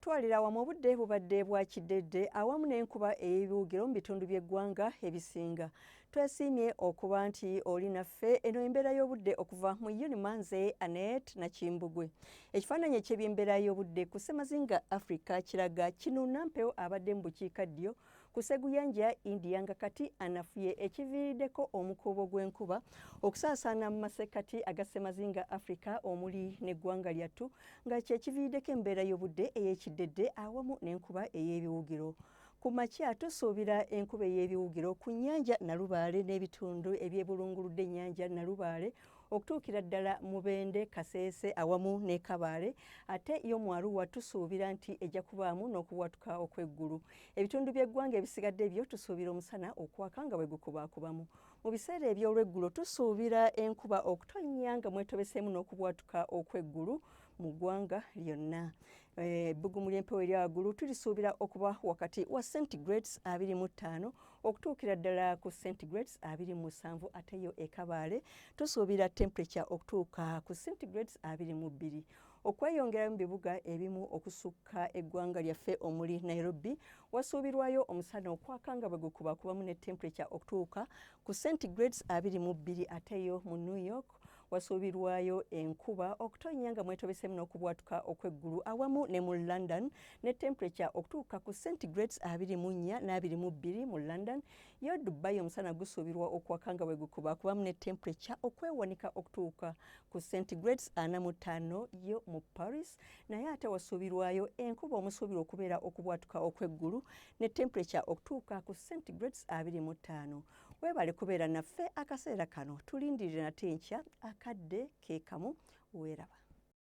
Twalira wamu obudde bubadde bwa kiddedde awamu n'enkuba ey'ebiwugiro mu bitundu by'eggwanga ebisinga. Twesiimye okuba nti oli naffe eno embeera y'obudde okuva mu Unima nze Anet Nakimbugwe. Ekifaananyi eky'ebyembeera y'obudde ku ssemazinga Africa kiraga kinuuna mpewo abadde mu bukiika ddyo ku sseguyanja ya India nga kati anafuye ekiviiriddeko omukuubo gw'enkuba okusaasaana mu masekkati aga ssemazinga Africa omuli n'eggwanga lyattu nga kye kiviiriddeko embeera y'obudde ey'ekiddedde awamu n'enkuba ey'ebiwugiro. Ku makya tusuubira enkuba ey'ebiwugiro ku nnyanja Nalubaale n'ebitundu ebyebulunguludde ennyanja Nalubaale okutuukira ddala Mubende, Kaseese awamu ne Kabaale ate yo mu Arua tusuubira nti ejja kubaamu n'okubwatuka okw'eggulu. Ebitundu by'eggwanga ebisigadde byo tusuubira omusana okwaka nga bwe gukubaakubamu. Mu biseera eby'olweggulo tusuubira enkuba okutonnya nga mwetobeseemu n'okubwatuka okw'eggulu mu ggwanga lyonna. Eh, ebbugumu ly'empewo erya waggulu tulisuubira okuba wakati wa centigrades abiri mu ttaano okutuukira ddala ku centigrades abiri mu musanvu ate yo ekabaale tusuubira temperature okutuuka ku centigrades abiri mu bbiri. Okweyongerayo mu bibuga ebimu okusukka eggwanga lyaffe omuli Nairobi wasuubirwayo omusana okwaka nga bwe gukubakubamu ne temperature okutuuka ku centigrades abiri mu bbiri ate yo mu New York wasuubirwayo enkuba okutonnya nga mwetobeseemu n'okubwatuka okw'eggulu awamu ne mu London ne temperature okutuuka ku centigrades abiri mu nnya n'abiri mu bbiri mu London Yo Dubai omusana gusuubirwa okwaka nga bwe gukuba kubamu ne temperature okwewanika okutuuka ku centigrades ana mu ttaano yo mu Paris naye ate wasuubirwayo enkuba omusuubirwa okubeera okubwatuka okw'eggulu ne temperature okutuuka ku centigrades abiri mu ttaano. Weebale kubeera naffe akaseera kano tulindirire nate enkya akadde ke kamu weeraba.